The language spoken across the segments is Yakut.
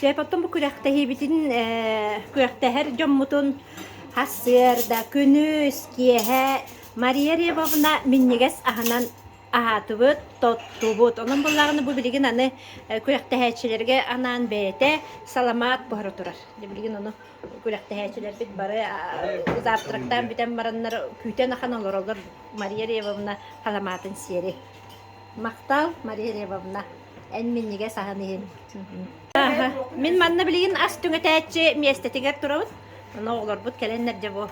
Чэ, потом бу күрэхтэһиибитин э, күрэхтэһэр дьоммутун Хасыарда, күнүс, киэһэ Мария Рябовна минньигэс аһынан аһаатыбыт, тоттубут. Онон буллаҕына бу билигин аны э, күрэхтэһээччилэргэ анаан бэйэтэ саламаат буһара турар. Билигин ону күрэхтэһээччилэрбит бары завтрактаан бүтэн бараннар күүтэн ахан олоролор Мария Рябовна халамаатын сиэри. Махтал, Мария Рябовна. Эн минньигэс аһын иһин. Аха. Мин манна билигин ас түҥэтээччи миэстэтигэр турабын. Аны оҕолорбут кэлэннэр дьэ бу.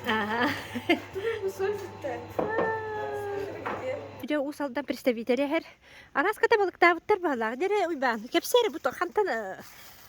Аха. Дьэ Уус Алдан представитель эһэр. Арааска табылыктаабыттар баалаах. Дэрэ Уйбаан, кэпсээр бу хантан э,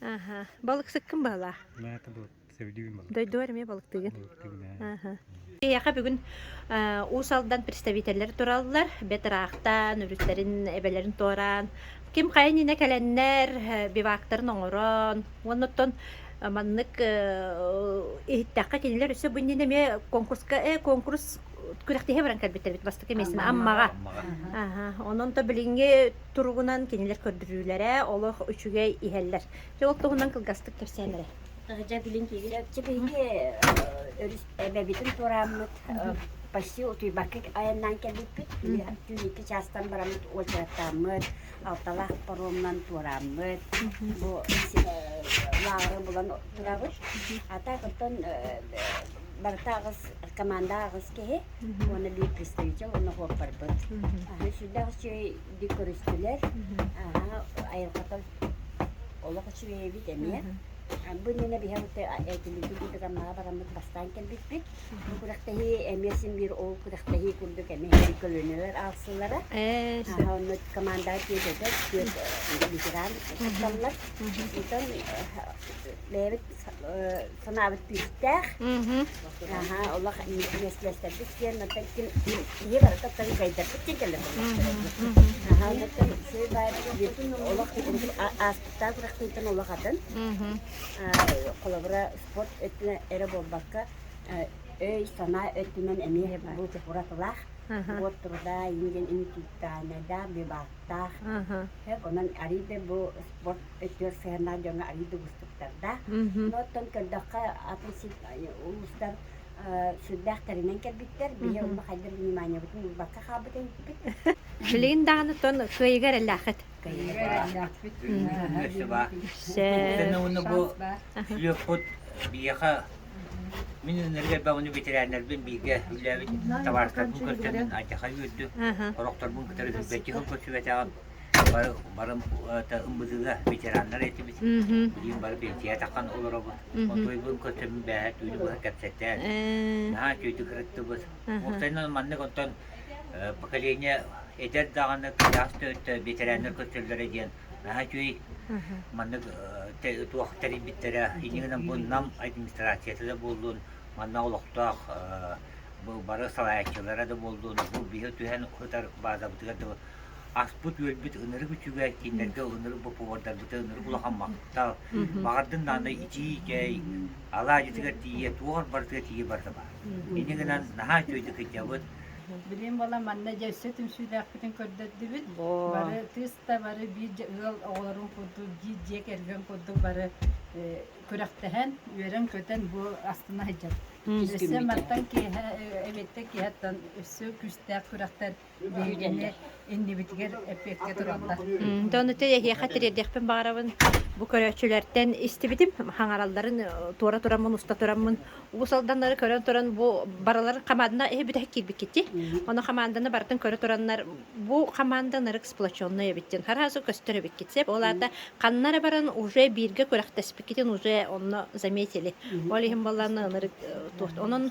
Аха. Балыксыккын баһылаа. Мата был севдюин балык. Дойдуар эмиэ балыктыгын. Балыктыгын аа. Эйиэхэ бүгүн Уус Алдан представителлэр тураллар. Бэт ыраахтан өрүттэрин эбэлэрин туораан, ким хайын инэ кэлэннэр бивактарын оҥорон, уонна оттон маннык иһиттэххэ кинилэр өссө бу иннинэ эмиэ конкурска э конкурс күрэхтэһии баран кэлбиттэр бит бастакы мессен Аммаҕа. Онон то билиҥҥи туругунан кинилэр көрдөрүүлэрэ олох үчүгэй иһэллэр. Дьэ ол туһунан кылгастык кэпсээннэрэ. Дьэ билин Дьэ биһиги өрүс эбэбитин туорааммыт почти утуйбакка айаннаан кэлбиппит. Түүн икки чаастан бараммыт уочараттааммыт, алталаах паромнан туорааммыт. Бу лааҕыры булан турабыт. А так оттон барыта аҕыс команда аҕыс киһи уонна лепестовича уонна хуоппарбыт аһы сүрдээх үчүгэй дип көрүстүлэр аһа айылҕата олох үчүгэй эбит эмиэ бу иннинэ биһиэхэ этилиитин курдук Аммаҕа бараммыт бастаан кэлбиппит бу күрэхтэһии эмиэ син биир ол күрэхтэһии курдук эмиэ иһигэр көлөнүөр аалсыллара аһа онно команда тиэдэтэ түөрт ветеран кытталлар онтон бэйэбит санаабыт күүстээх. Аһа, олох меслестэрбит киэн, оттон киһи барыта тан дайдарбыт киэн кэллэрбэттэр. Аһа, оттон сый баайбыт олох ааспыттаах бырахтыытын олох атын. Холобура, спорт өттүнэ эрэ буолбакка, өй, санаа өттүнэн эмиэ бу уратылаах. Вот труда инден интуитальнайдаах, бивактаах. Онон арыйда бу спорт өттүгэр сыһыаннаах дьоҥҥо арыый да уустуктардаах. Мгм. Оттон көрдөххө, атын сит улуустар э, сүрдээх тэринэн кэлбиттэр. Биһи Мгм. онно хайдах вниманиебытын ылбакка хаалбытын эппит. Билигин даҕаны тон кыайыгар элээхит. Кыайыгар элээхпит. Өссө баар. Сэнэ уонна бу үһүөхпут биһиэхэ мин өнөргө элбэх ону ветерианнарбын бииргэ үлээбит табаарыстарбын көрсөммүн алдьархай үөрдүм. Аха. Орохторбун кытары билбэччи холбоччу бэтэҕим. бары барым ымбытыга ветераннар этибит. Билим бары пенсия таххан олоробут. Отойбун көтөмүн бээһэ түүнү быһа кэпсэттээн. Наһаа түүтү кырыттыбыт. Мустайынан маннык онтон поколение эдэр даҕаны кыйаас төрүттэ ветераннар көтөллөрө диэн наһаа үтүүй маннык туох тэрийбиттэрэ инигинэн буннам администрацията да буоллун манна олохтоох бары салааччылара да буоллун бу биһи түһэн ытар баадабытыгар да аспыт-үөлбүт ынырык үчүгэй, кинилэргэ ынырык бопуруодарбыта ынырык улахан махтал. Баҕардын даанай ичиикэй, алаадьытыгар тиийэ, туох барытыгар тиийэ барыта баар. Ини гынан наһаа үчүгэйдик кыйдабыт. Билим бала манна дьэ өссө түмсүүлээхпитин көрдөрдүбүт. Бары тыста бары биир ыал оҕолорун курдук биир дьиэ кэргэн курдук бары күрэхтэһэн, үөрэн-көтөн бу астына сылдьабыт. Өссө мантан киэһэ эбиэттэн киэһэттэн өссө күүстээх күрэхтэр Бүлүүдэллэр иннибитигэр эппиэккэ тураллар. Дьэ ону эһиэхэ тириэрдиэхпин баҕарабын. Бу көрөөччүлэртэн истибитим, хаҥаралларын туора тураммын, уста тураммын уус алданнары көрөн туран бу барыларын хамаандана иһи бүтэһик киирбиккитий? Ону хамаанданы барытын көрө тураннар бу хамаанда нарык сплоченнай эбит диэн хараазы көстөр эбиккит сеп ол аата ханна эрэ баран уже бииргэ күрэхтэспиккитин уже онно заметили ол иһин боллаанна ынырык туохт онон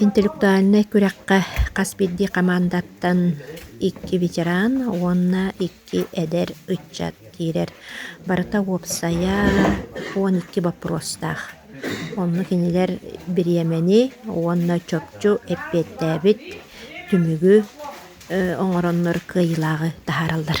Интеллектуальнай күрэххэ хас биирдии хамаандаттан икки ветеран уонна икки эдэр ыччат киирэр. Барыта уопсайа он икки боппуруостаах. Онно кинилэр бириэмэни уонна чопчу эппиэттээбит түмүгү оҥороннор кыайыылааҕы таһаараллар.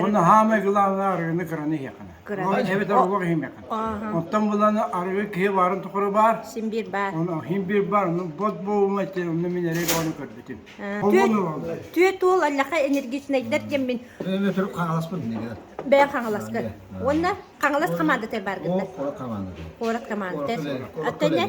Уонна саамай главное арыгыны кыраны иһиэххинэ. Эбэтэр оҕур иһимиэххинэ. Оттон буланы арыгы киһи баарын тухары баар. Син бір бар. Син бір бар. Бот болума этэ. Онно мен эрэ оны көрбүтүм. Түөт уол аллаха энергичнайдер деммин. Мен түріп қаңаласпын неге? Бәй қаңаласка. Онна қаңалас командата бар гынна. Қорақ команда. Қорақ команда. Аттanya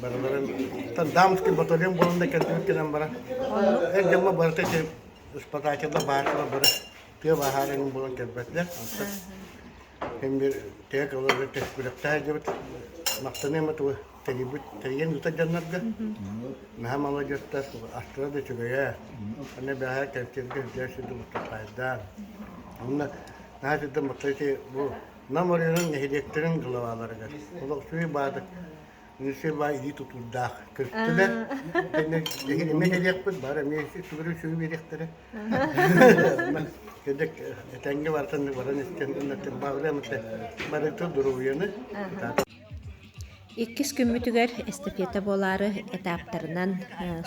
барыларын там дамский батальон буолан да кэлбит гынан баран эр дьомо барыта ити испытателлар баартыла бары тыа баһаарын буолан кэлбэттэр антан эмир тек олору күрэхтэһэ дьыбыт махтаныма тугу тэрийбит тэрийэн ыытар дьоннорго наһаа маладьыттар астыра да үчүгэйэ аны бэһээ кэлтиргэ үрдээ сирде мустахайдаан онна наһаа сирден махтаити бу нам оройунун нэһилиэктэрин главаларыгар олох сүй баадык Рыжева илии тутуурдаах көрүстүлэр. Тэннэ эмиэ кэлиэхпит, бары эмиэ сүгүрү сүгү биэриэхтэрэ. Кэдик этэҥҥэ барытын баран истэн иннэтин баҕарыам ette барыта дуруйаны. Иккис күммүтүгэр эстафета буолаары этаптарынан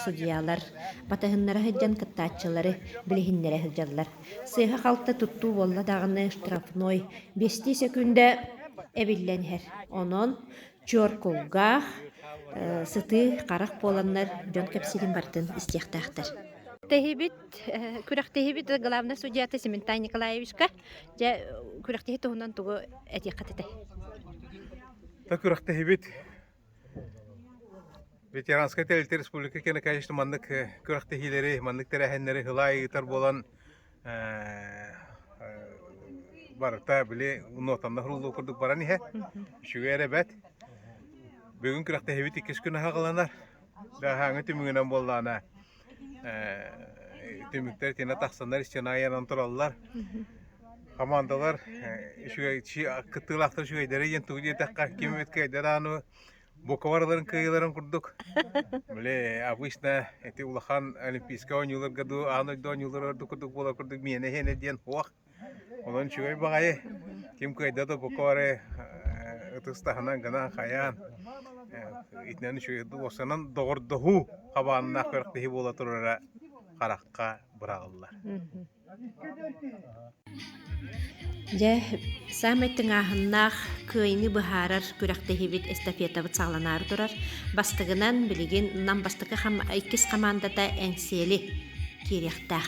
судьялар батыһыннара сылдьан кыттааччылары билиһиннэрэ сылдьаллар. Сыыһа-халта туттуу буолла даҕаны штрафной 5 секундэ эбиллэн иһэр. Онон Чуоркулгаах, сытыы харах буоланнар дьон кэпсиирин барытын истиэхтээхтэр. Тэһибит, күрэхтэһибит главный судьята Сементай Николаевичка. Дьэ, күрэхтэһи туһунан тугу этиэххэ этэй? Да күрэхтэһибит Ветеранскай тэрилтэ республика киэне, конечно, маннык күрэхтэһиилэри, маннык тэрээһиннэри ылаа ыытар буолан, барыта били нотаннах рулуу курдук баран иһэ үчүгэй эрэ бэт бүгүн күрэхтэһиибит иккис күн аһаҕыланар да аһааҥы түмүгүнэн буоллаана түмүктэр тина тахсаннар истен айанан тураллар командалар үчүгэй кыттыылаахтар үчүгэйдэрэ диэн тугу диэтэххэ ким эткэйдэр ану Буковараларын кыайыыларын курдук. Били обычно эти улахан олимпийскай оонньууларга дуу, аан дойду оонньуулара ордук курдук буолар курдук миэнэ иһэнэ диэн уох. Онон үчүгэй баҕайы ким кыайда да Буковары ытыс таһынан гынан хайаан итинэн үчүгэй дуосанан доҕордоһуу хабааннаах күрэхтэһии буола турара харахха бырааллар. Дьэ, саамай тыҥааһыннаах кыайыны быһаарар күрэхтэһиибит эстафетабыт саҕаланаары турар. Бастыгынан, билигин Нам бастакы хам иккис хамаандата Эҥсиэли киириэхтээх.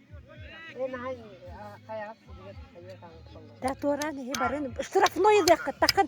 Да туоран иһи барын штрафной ылыахха такын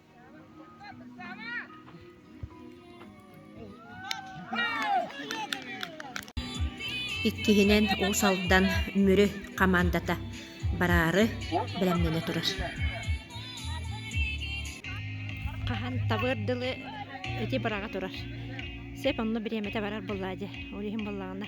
Иккиһинэн Уус Алдан Мүрү хамаандата бараары бэлэмнэнэ турар. Хаһан табыыр дылы ити быраҕа турар. Сеп онно бириэмэтэ барар буллаа дьэ, ол иһин буллаҕына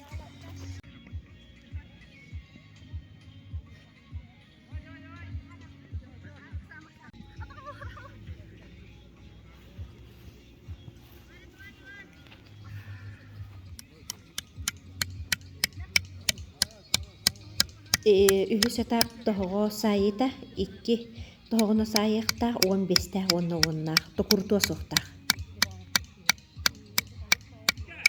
үһүс этап тоһоҕо саайыыта икки тоһоҕону саайыахтаах уон биэстээх уонна уоннаах токурутуо суохтаах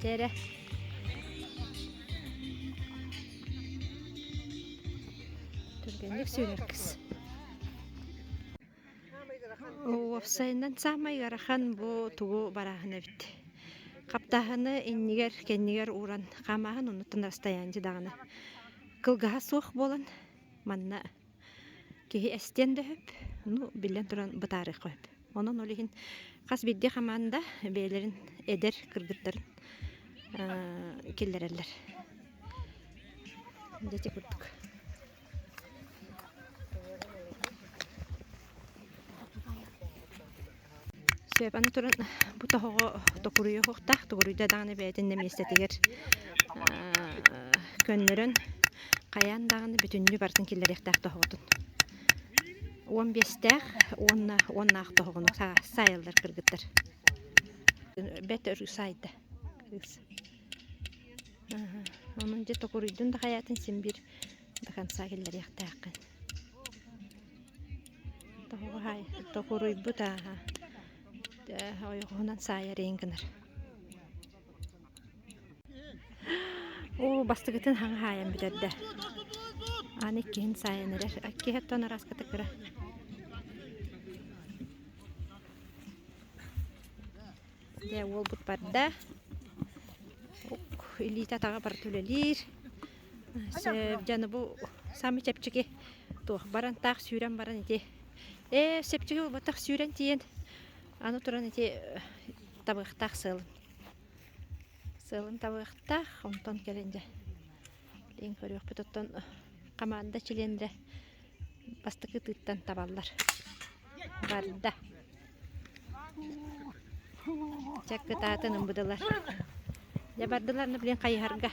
Дьэ эрэ түргэнник сүүрэр кыз уопсайынан саамай ыарахан бу тугу барааһын эбит хаптааһыны иннигэр кэннигэр ууран хаамааһын оннуттан расстояние даҕаны кылгаһа суох буолан манна Киһи эстиэн да сөп, ну, биллэн туран, бытаарыахха сөп. Онон ол иһин хас биирдии хамаанда бэйэлэрин эдэр кыргыттарын киллэрэллэр. Дьэ, курдук. Сөп, аны туран бу тоһоҕо токуруйа уһуктаах, токуруйда даҕаны бэйэтин миэстэтигэр көннөрөн хайаан даҕаны бүтүннүү барытын киллэриэхтээх тоһоҕотун. Уон биэстээх уонна уоннаах тоһоҕону саайаллар кыргыттар. Бэт өрүү саайда кыыс. Онон дьэ токуруйдун да хайаатын син биир хамсаа киллэриэхтээххин токуруйбут ааһа ойоҕоһунан саайар иин гынар уу бастыгытын хаҥа хаайан бүтэрдэ ааны иккиһин саайан эрэр иккиһи оттон арааската кыра дэ уолбут барда илиитэ атаҕа барыта үлэлиир дьаны бу саамы чэпчэки туох баран таах сүүрэн баран ити ээ сепчиги уботах сүүрэн тиийэн аны туран ити табыахтаах сыалым сыалым табыахтаах онтон кэлин дьэ билигин көрүөхпүт оттон хамаанда чилиэннэрэ бастакы ытыыттан табаллар барда чэ кытаатын ымбыдылар дьэ бардылар да билигин хайыһарга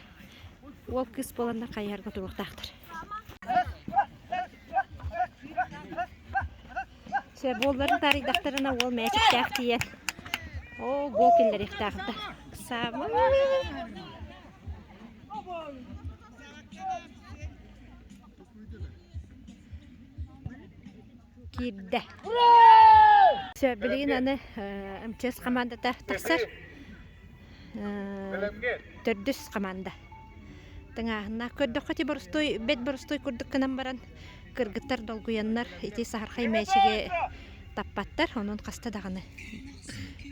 уол кыыс буоланнар хайыһарга туруохтаахтар сэ буолларын таарыйдахтарына уол мээчиктээх тиийэн оо гол киллэриэхтээхтэ саамай киирдэ. Все, билигин аны МЧС командата тахсар. Төрдүс команда. Тыңааһыннаах көрдөххө ти борустуй, бэт борустуй курдук кынан баран кыргыттар долгуяннар ити сахархай мээчиги таппаттар, онон хаста даҕаны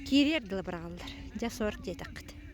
киириэр дылы быраҕаллар. Дьэ, сор диэтэххит.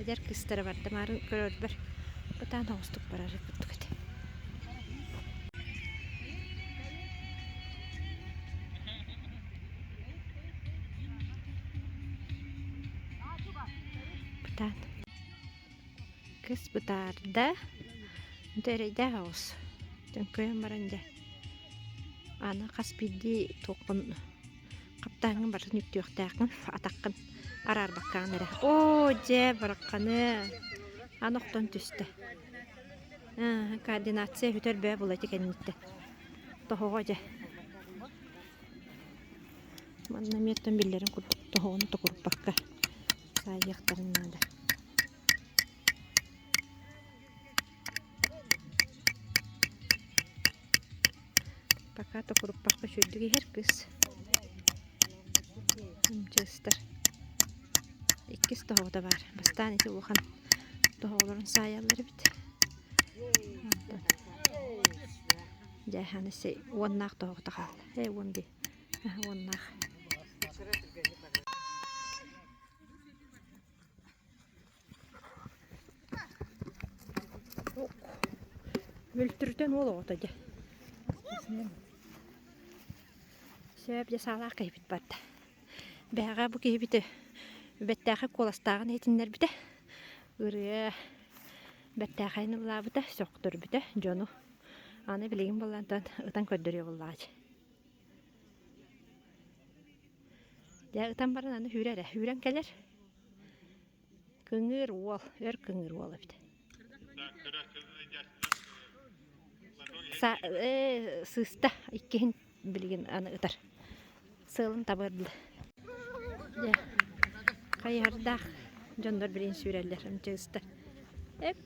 Эдэр кыыстара бар Дамаарын көрөрбөр ытаан оҕустук барары курдук этэ Бытаан Кыс бытаарда Ити эрэйдээх оҕус Төҥкөйөн баран дьэ Аны хас биирдии туоххун Хаптааҥҥын барытын үктүөхтээххин, атаххын араарбаккаҕын эрэ. Оо, дьэ, барахханы аны охтон түстэ. координация үтэр бөө була ити кэнниттэн. Тоһоҕо дьэ. Манна эмиэттэн биллэрин курдук тоһоҕону токуруппакка саайыахтарын наада. Пока токуруппахпыт үрдүк иһэр кыс Амчыыстар иккис тоһоҕото баар бастаан ити улахан тоһоҕолорун саайаллар эбит онтон дьээһэни сэй уоннаах тоһоҕото хаалла ээ уон дии аһа уоннаах Мөлтүрүтэн уол оҕото дьэ. Сөп дьэ саалаах киһибит барда. Бэһэҕэ бу киһибити бэттээхи куоластааҕын иһитиннэрбитэ. Ырыа бэттээхэйин ыллаабыта, сөхтөрбүтэ дьону. Аны билигин буоллан тан ытан көрдөрүө буоллаҕа Дьэ ытан баран аны үүрэ эрэ, үүрэн кэлэр. Кыҥыыр уол, өр кыҥыыр уол эбит. Са э сыыста иккиһин билигин аны ытар. Сыалын табыардылар. Дьэ, хайыһардаах дьоннор билигин сүүрэллэр, амча ыстар. Эк,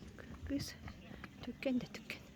кыыс түккэн да түккэн.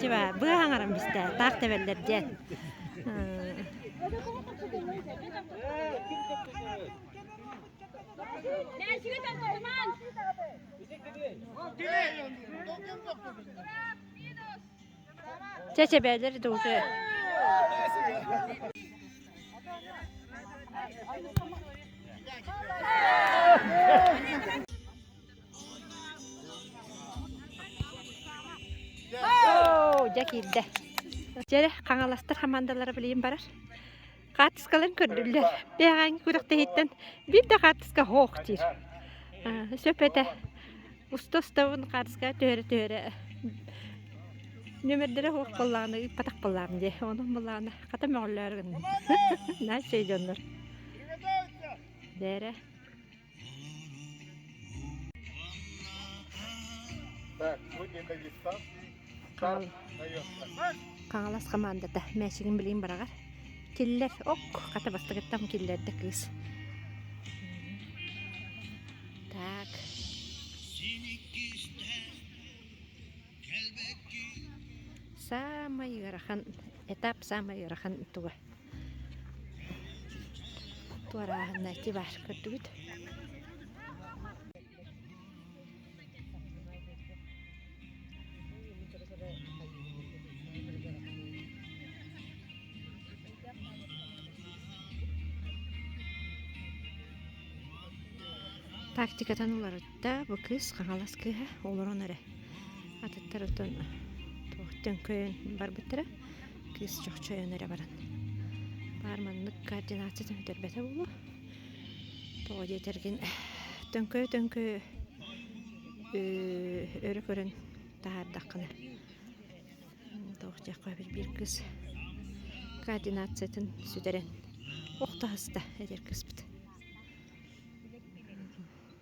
Чиба, быа хаҥаран бистэ, таах тэбэллэр дьэ. Чэ, чэбээлэр да уже. Оо, дьэ киирдэ. Дьэ, хаҥаластар хамаандалара билигин барар. Хаартыскаларын көрдүллэр. Бэҕэҥ күрэхтэһииттэн биир да хаартыска хоох диир. Сөп этэ. Уста-устабын хаартыска түһэрэ-түһэрэ номердэрэ хоох боллааны ыыппатах боллаан дии. Онон боллааны хата мөҕөллөөр гынным. Нааччай дьоннор. Дээрэ. Так, сегодня дагестанский старт дается. Хаҥалас хамаандата мээчигин билин барагар. Киллер ок хата бастагыттам киллерде кыыс. Так. Самый ырахан этап самый ырахан туга. туорааһыннайти бар көрдүгүт тактикатан уларытта бу кыыс хаҥалас кыыһа олорон эрэ атыттар оттон туох төҥкөйөн барбыттара кыыс чохчу ойон эрэ баран баар маннык координация төһүтэрбэтэ буолуо тоҕо диэтэргин төҥкөйө төҥкөйө өрө көрөн таһаардаххына тоох диэххэ биир кыыс координациятын сүтэрэн ох таһыста эдэр кыыспыт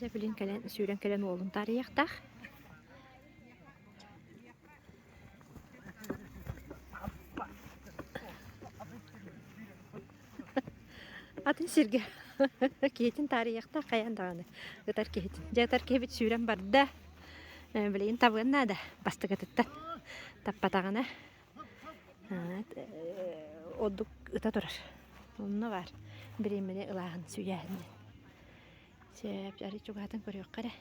Дьэ билин кэлэн сүүрэн кэлэн уолун таарыйахтаах. Аппа! Аппа! Атын сиргэ киһитин таарыйыахтаах хайаан даҕаны ытар киһитин. Дьэ ытар киһибит сүүрэн барда. Э, билигин табыан наада бастакытыттан. Таппатаҕына ордук ыта турар. Онно баар. Бириэмэни ылааһын, сүүйээһин диэн. Сөп, арай чугаһатын көрүөххэ эрэ.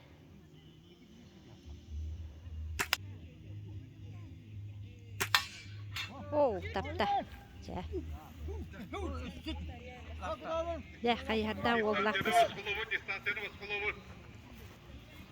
Оу, тапта. Чэ. Дэ, хайыһарда уоллах кис.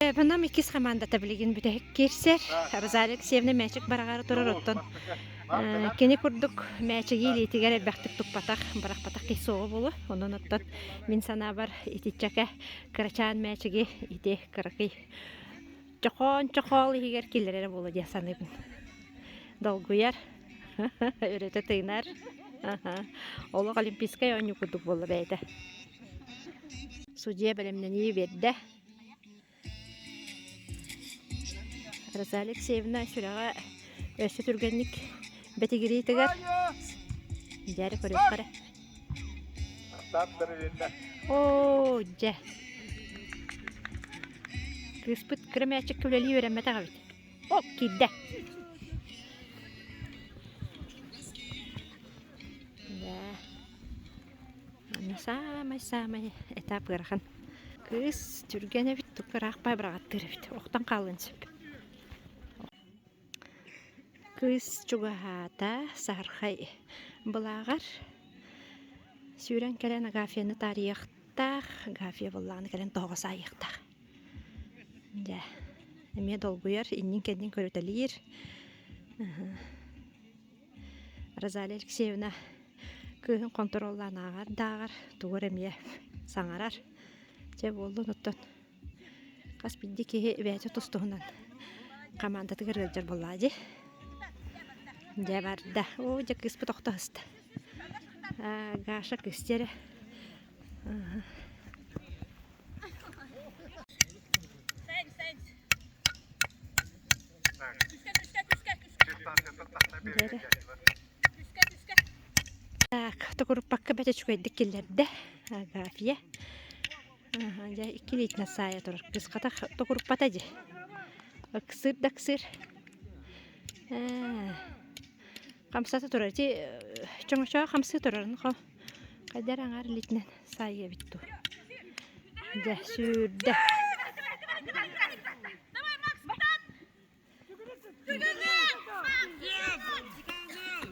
Нам иккис хамаандата билигин бүтэһик киирсэр. Розалия Алексеевна мээчик барагаары турар, оттон кини курдук мээчиги илиитигэр элбэхтик туппатах, барахпатах киһи суоҕа буолуо. Онон оттон мин санаабар итиччэкэ кырачаан мээчиги ити кыракый чохоон-чохоол иһигэр киллэрэр эрэ буолуо дии саныыбын. Долгуйар, өрөтө тыынар. Олох олимпийскай оонньуу курдук буолла бэйэтэ. судья бэлэмнэнии биэрдэ Роза Алексеевна сүрэҕэ өссө түргэнник бэтигириитигэр дьээри көрүөххэ эрэ оо дьэ кыыспыт кыра мээчиккэ үлэлии үөрэммэтэх эбит о киирдэ да Манна саамай-саамай этап ыарахан. Кыыс түргэн эбит, тука ыраах бай быраҕаттыыр эбит. Охтон хаалыан сөп. Кыыс чугаһаата саһархай былааҕар. Сүүрэн кэлэн Агафьяны таарыйыахтаах. Агафья буоллаҕына кэлэн тоһоҕо саайыахтаах. Дьэ, эмиэ долгуйар, иннин-кэннин көрүтэлиир. Розалия Алексеевна кыыһын хонтуруоллаан ааҕар дааҕар тугу эрэ эмиэ саҥарар. Дьэ буоллун оттон хас биирдии киһи бэйэтэ тус-туһунан хамаандатыгар ыалдьар буоллаҕа дии. Дьэ барда. Оо дьэ кыыспыт охтоһуста. Аа, Гаша кысти эрэ. Аха. Так, токуруппакка бэт үчүгэйдик киллэрдэ Агафия. Дьэ, иккилиитинэ саайа турар кыската токуруппата дьи. Ыксыыр да ыксыыр. Хамсата турар. Дьи, чоҥочоҕо хамсыы турарын Эдэр аҥар илиитинэн саайыабыт дуу. Дьэ, сүүрдэ.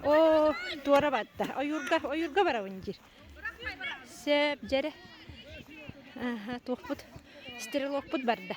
Оо, туора барда. Ойуурга, ойуурга барабын диир. Сөп, дьэрэ. Аха, туохпут, стрелокпут барда.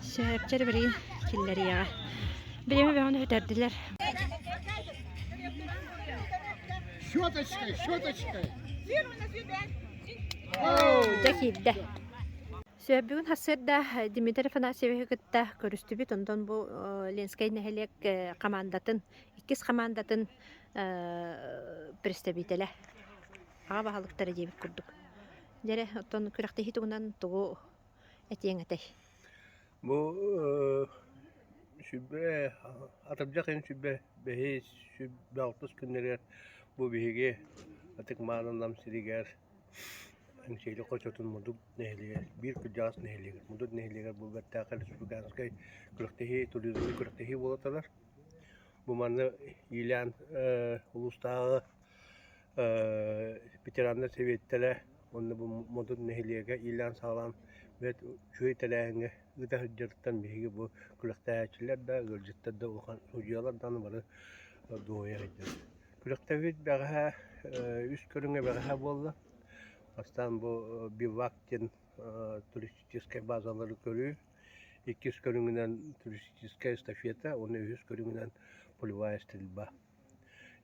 Сэһэрчэр бэрин киллэриэҕэ. Билими бөҕөнү үтэрдилэр. Щеточкой, щеточкой. Дьэ киирдэ. Сөбүгүн хасырда Дмитрий Афанасьевиһы кытта көрүстүбүт, онтон бу Ленскэй нэһилиэк командатын, иккис командатын представителэ аҕа баһылыктара диэбит курдук. Дьэрэ, оттон күрэхтэһии тугунан тугу этиэҥ этэй бу сүбэ атырдьах ыйын сүбэ бэһис сүбэ алтыс күннэригэр бу биһиги ытык мааны Нам сиригэр Эҥсэйли хочотун мудук нэһилиэгэр биир кырдьаҕас нэһилиэгэр мудук нэһилиэгэр бу бэртээхэй республиканскай күрэхтэһии туризмный күрэхтэһии буола турар бу манна иилээн улуустааҕы ветераннар сэбиэттэрэ уонна бу модун нэһилиэгэ иилээн-саҕалаан бүт үчүгэй тэрээһиҥҥэ ыыта сылдьарыттан биһиги бу күрэхтэһээччилэр да ыалдьыттар да улахан судьуйалар даҕаны бары дуоһуйа сылдьабыт күрэхтэһиит бэҕэһээ үс көрүҥэ бэҕэһээ буолла бастаан бу бивак диэн туристическай базалары көрүү иккис көрүҥүнэн туристическай эстафета уонна үһүс көрүҥүнэн полевая стрельба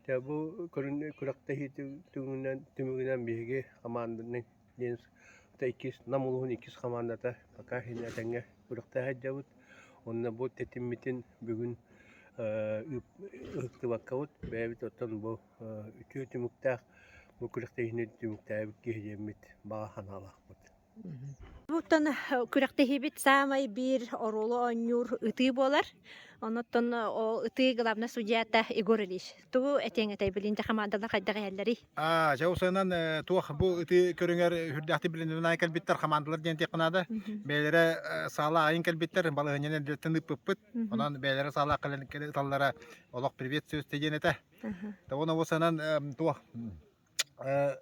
Дьэ бу көрүн күрэхтэһиити түмүгүнэн түмүгүнэн биһиги хамаанданан диэн иккис Нам улууһун иккис хамаандата пока этэҥҥэ күрэхтэһэ сылдьабыт. Уонна бу тэтиммитин бүгүн ыытыллыбаккабыт, бэйэбит оттон бу үтүө түмүктээх бу күрэхтэһиини түмүктээбит киһи диэммит баҕа санаалаахпыт. Оттон күрэхтэһиибит саамай биир оруолу оонньуур ытыы буолар. Онуттан ол ытыы главнай судьята Егор Ильич. Тугу этиэҥ этэй билин дьэ хамаандалар хайдах иһэллэрий? Аа, дьэ усанан э, туох бу ытыы көрүҥэр үрдээхтик билининай кэлбиттэр хамаандалар диэн диэххэ наада. Бэйэлэрэ э, саала аайын кэлбиттэр, балаһынньан эдэртэн ыппыппыт. Онон бэйэлэрэ саала кэлэн кэлэ ыталлара олох привет сөз диэн этэ. Табон обусанан э, туох э,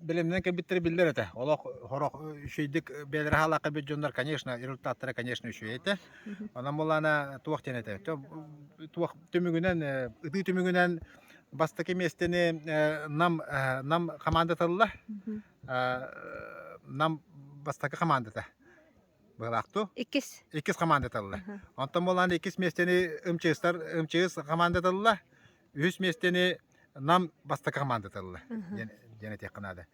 Билимнэн кэлбиттэрэ биллэр этэ. Олох сорох үчүгэйдик бэйэлэрэ хаалаах кэлбит дьоннор, конечно, результаттара, конечно, үчүгэй этэ. Онон буолаана туох диэн этэ. Туох түмүгүнэн, ытыы түмүгүнэн бастакы миэстэни Нам Нам хамаандатылла. Нам бастакы хамаандата быһылаахтуу. Иккис. Иккис хамаандатылла. Онтон буолаана иккис миэстэни МЧС-тар МЧС хамаандатылла. үһүс миэстэни Нам бастакы командатылла диэн этиэххэ наада.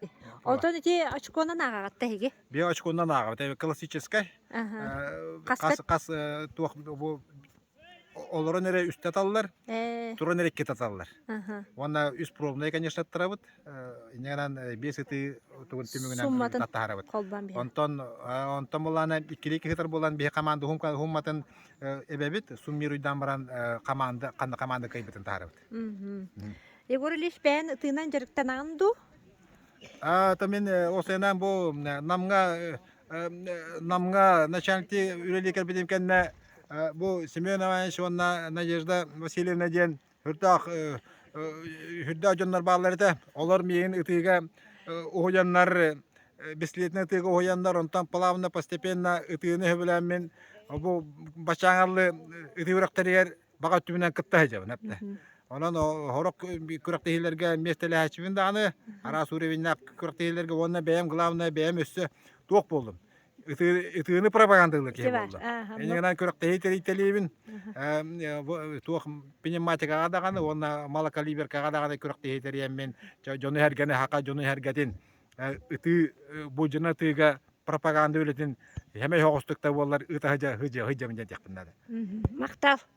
Оттон ити очконан ааҕатта эһиги? Би очконан ааҕабыт. Это классическай. Хас хас туох бу олорон эрэ үстэ аталлар, туран эрэ икки аталлар. Уонна үс пробнай, конечно, аттарабыт. Иннигынан биэс ытыы тугун түмүгүнэн аттаһарабыт. Онтон онтон булаана иккилии киһитэр булан биһи команда хумматын эбэбит суммируйдаан баран команда ханна команда кайбытын таһарабыт Егор Ильич бэйэн тыынан дьарыктанаан ду то мен осыынан бу намга намга начальникти үлеликер битим кенне бу Семен Иванович уонна Надежда Васильевна диэн Үрдээх үрдээх дьоннор бааллар этэ. Олор миигин ытыыга уһуйаннар бессилетнай ытыыга уһуйаннар, онтон плавно, постепенно ытыыны сөбүлээммин бу баччааҥы алы ытыы үрэхтэригэр баҕа өттүбүнэн кытта сылдьабын эптэ. Онон сорох күрэхтэһиилэргэ миэстэлэһээччибин даҕаны, араас уровеньнаах күрэхтэһиилэргэ уонна бэйэм главное, бэйэм өссө туох буоллум? ытыыны пропагандыылла киһи буолла. Эйигинэн күрэхтэһии тэрийтэлиибин, туох пневматикаҕа даҕаны уонна малокалиберкаҕа даҕаны күрэхтэһии тэриэммин, дьону-сэргэни хаха дьону-сэргэтин ытыы, буулдьаны ытыыга пропаганда үлэтин сэмэй оҕустук да буоллар ыыта сыдьа сыдьа диэхпин наада. Махтал.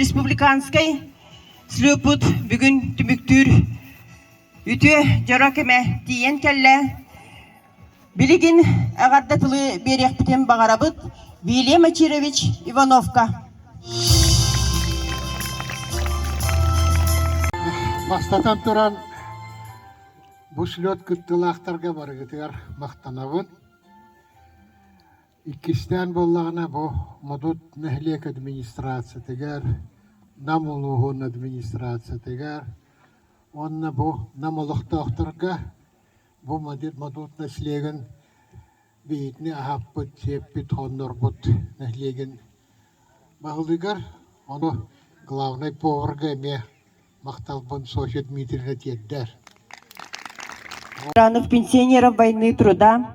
республиканскай слюпут бүгүн түмүктүүр үтүө дьоро кэмэ тиийэн кэллэ Билигин эҕэрдэ тылы биэриэхпитин баҕарабыт Вилия Мачирович Ивановка. Бастатан туран, бу слет кыттылаахтарга барыгытыгар махтанабын. Иккистээн буоллаҕына бу Модут нэһилиэк администрациятыгар, Нам улууһун администрациятыгар уонна бу Нам олохтоохторго бу модут нэслиэгин бэйэтинэ аһаппыт, сиэппит, хоннорбут нэһилиэгин баһылыгар, ону главнай поварга эмиэ махталбын Софья Дмитриевна тиэрдэр. Ранов пенсионеров «Войны труда»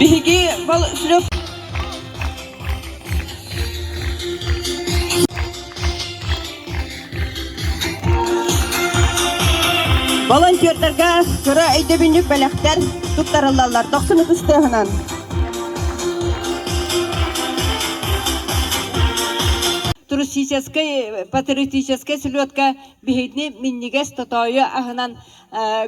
Биһиги Волшлев волонтердарга кыра өйдөбүнньүк бэлэхтэр туттарыллаллар тохсун ытыс тыаһынан. Туристическай, патриотическай слетка биһигини миннигэс тотойу аһынан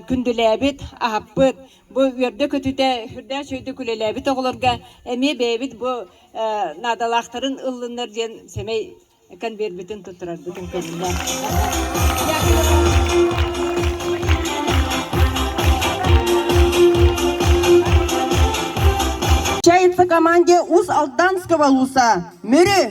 күндүлээбит, аһаппыт, бу үөрдэ-көтүтэ сүрдээх үчүгэйдик үлэлээбит оҕолорго эмиэ бэйэбит бу наадалаахтарын ыллыннар диэн сэмэй конвертбытын туттарарбытын көрүннэ. Включается команде УС Алданского Луса. Мүрү!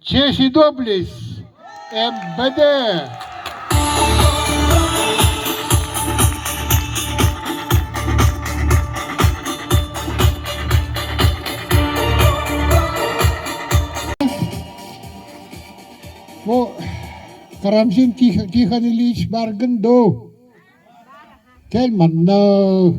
Честь и доблесть МВД Бу Карамзин Тихон Ильич баргын дуу? Кэл манна.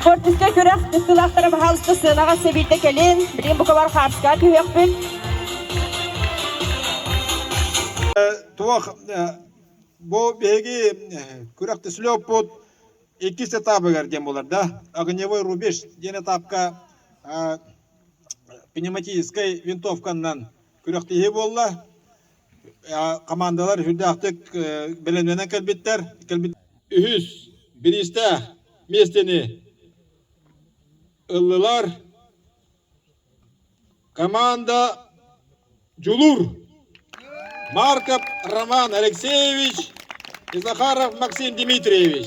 Спортивка күрэх ыстылаахтара баһаалыста сыанаҕа сэбиэтэ кэлин. Билим букабар хаарска түһүөхпүт. Туох бу биһиги күрэх түсүлэ оппут иккис этапыгар диэн булар да огневой рубеж диэн этапка пневматическай винтовканнан күрэхтиһии буолла. командалар үрдээх бэлэмнэнэн кэлбиттэр кэлбит үһүс бириистэ миэстэни ыллылар команда дьулур марков роман алексеевич и захаров максим дмитриевич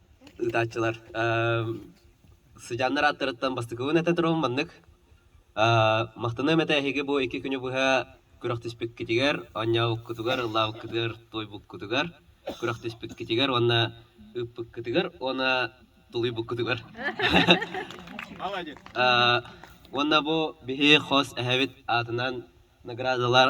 ыытааччылар сыдьааннар ааттарыттан бастакыбын этэ турабын маннык махтаныам этэ эһиги бу икки күнү быһа күрэхтэспиккитигэр оонньообуккутугар ыллаабыккытыгар туойбуккутугар күрэхтэспиккитигэр уонна ыыппыккытыгар уонна тулуйбуккутугар уонна бу биһи хос эһэбит аатынан наградалар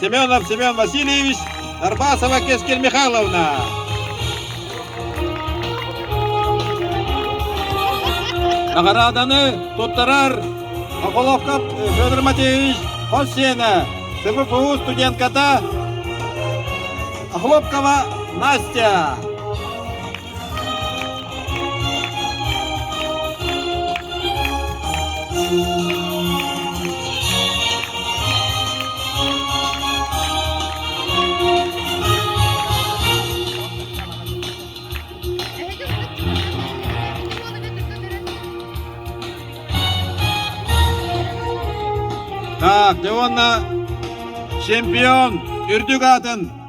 Семенов Семен Васильевич, Арбасова Кескель Михайловна. Наҕарааданы туттарар Околовков Федор Матвеевич Хосена, СФФУ студентката Охлопкова Настя. Так, да уонна чемпион үрдүк аатын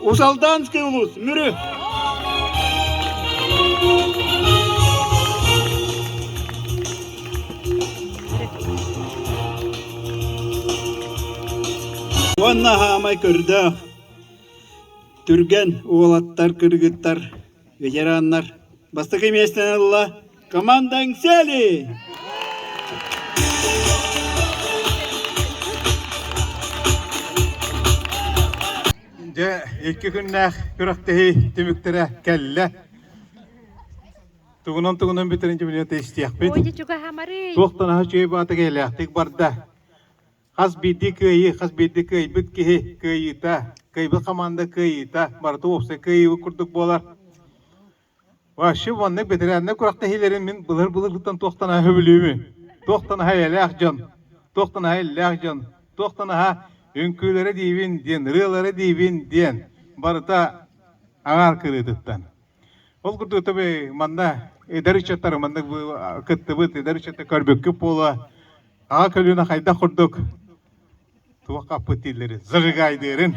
Усалданский улус, Мүрү! Уонна хаамай көрдөөх түргэн уолаттар кыргыттар ветераннар, бастакы миэстэни ылла команда «Иҥсээли». Дьэ, икки күннээх күрэхтэһии түмүктэрэ кэллэ. Тугунан-тугунан бүтэрин дьүмүнүөтэ истиэхпит. Туохтан аһы чөй баата кэлээхтик барда. Хас биирдии кыайыы, хас биирдии кыайбыт киһи кыайыыта, кыайбыт хамаанда кыайыыта, барыта уопсай кыайыыбыт курдук буолар. Вообще маннык бэтэрээннэр күрэхтэһиилэрин мин былыр-былыргыттан туох да наһаа сөбүлүүмүн. Туох да наһаа эйэлээх дьон, туох да наһаа иллээх дьон, туох да наһаа үҥкүүлэрэ диибин диэн, ырыалара диибин диэн барыта аҥаар кырыытыттан. Ол курдук таби манна эдэр ыччаттар маннык бу- кыттыбыт, эдэр ыччаттар көрбүккүт буолуо, Аҕа көлүөнэ хайдах курдук туоххаппыт дииллэрин, зажигайдыырын,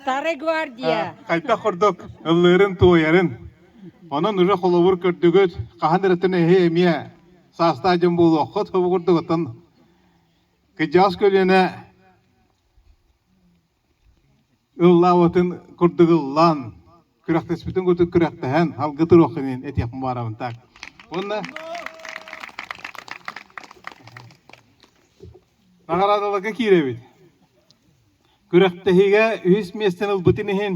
Старая гвардия. а, хайдах курдук ыллыырын-туойарын. Онон үрэ холобур көрдүгүт, хаһан эрэтин эһи эмиэ саастаа дьон буолуоххут курдугуттан кыдьаҕас көлүөнэ ыллаабытын курдук ыллаан күрэхтэспитин курдук күрэхтэһэн алгы туруоххун диэн этиэхпин баҕарабын так уонна наҕараадаларга киирэбит күрэхтэһиигэ үһүс миэстэни ылбытын иһин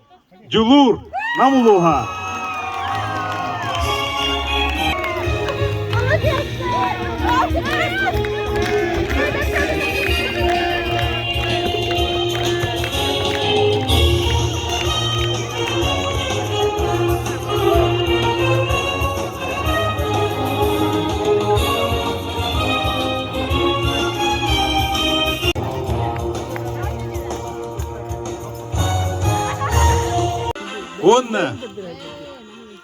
Дьулуур Нам улууһа Уонна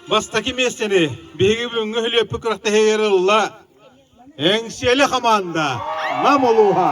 бастакы миэстэни биһиги бүгүҥҥү үһүлүөппүт күрэхтэһиилэр ылла Эҥсиэли хамаанда Нам улууһа.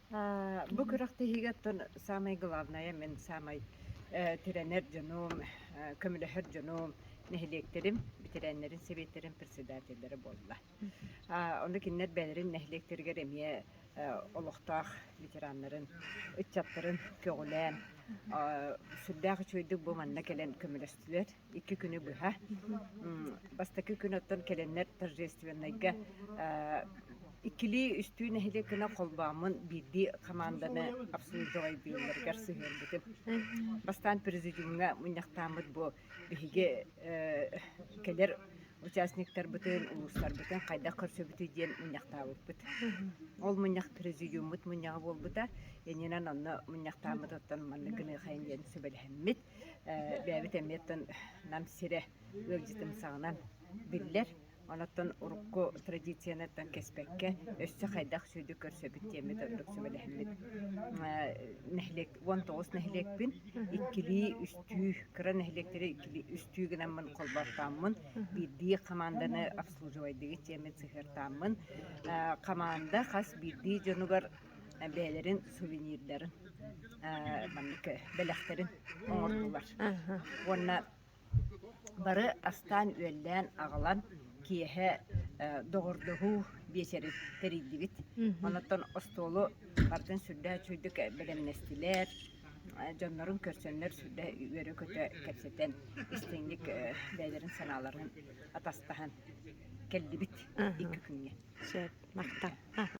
А, бу күрэхтэһиигиттэн самое главное мен самый э, тирэнэр дьонум, э, көмөлөһөр дьонум, нэһилиэктэрим, ветераннарын сэбиэттэрин председателлэрэ буолла. А, Онно кинилэр бэйэлэрин нэһилиэктэригэр эмиэ э, олохтоох ветераннарын, ыччаттарын көҕүлээн, а, сүрдээх үчүгэйдик бу манна кэлэн көмөлөстүлэр. Икки күнү быһа. М, Бастакы күн оттон кэлэннэр торжественнайга э, Иккилии-үстүү нэһилиэк гына холбооммун биирдии хамаанданы хапсыы дьоҕайдыылларыгар сыһыарбытым. Бастаан президиумҥа мунньахтааммыт бу биһиги кэлэр участниктарбытын, улуустарбытын хайдах көрсөбүтүй диэн мунньахтаабыппыт. Ол мунньах президиуммут мунньаҕа буолбута. Иннинэн онно мунньахтааммыт оттон маннык гыныахайын диэн сүбэлэһиммит. Бэйэбит эмиэ оттон Нам сирэ ыалдьытымсаҕынан биллэр. Оттон урукку традициянартан кэспэккэ, өссө хайдах сүдү көрсөбүт диэммит ордук сүбэлэһиммит. Нэһилиэк уон тоҕус нэһилиэкпин, иккилии, үстүү, кыра нэһилиэктэри иккилии, үстүү гынаммын холбоортооммун, биирдии хамаанданы обслуживайдыгыт диэммит сыһыартааммын. Хамаанда хас биирдии дьонугар бэйэлэрин сувенирдарын маннык бэлэхтэрин оҥордулар. Уонна Бары астаан үөллээн аҕалан киэһэ доҕордоһуу биэчэри тэрийдибит. Онуттан остуолу барытын сүрдээх үчүгэйдик бэлэмнэстилэр. Дьоннорун көрсөннөр сүрдээх үөрэ-көтө кэпсэтэн, истиҥник бэйэлэрин санааларын атастаһан кэллибит икки күҥҥэ. Сөп, махтал.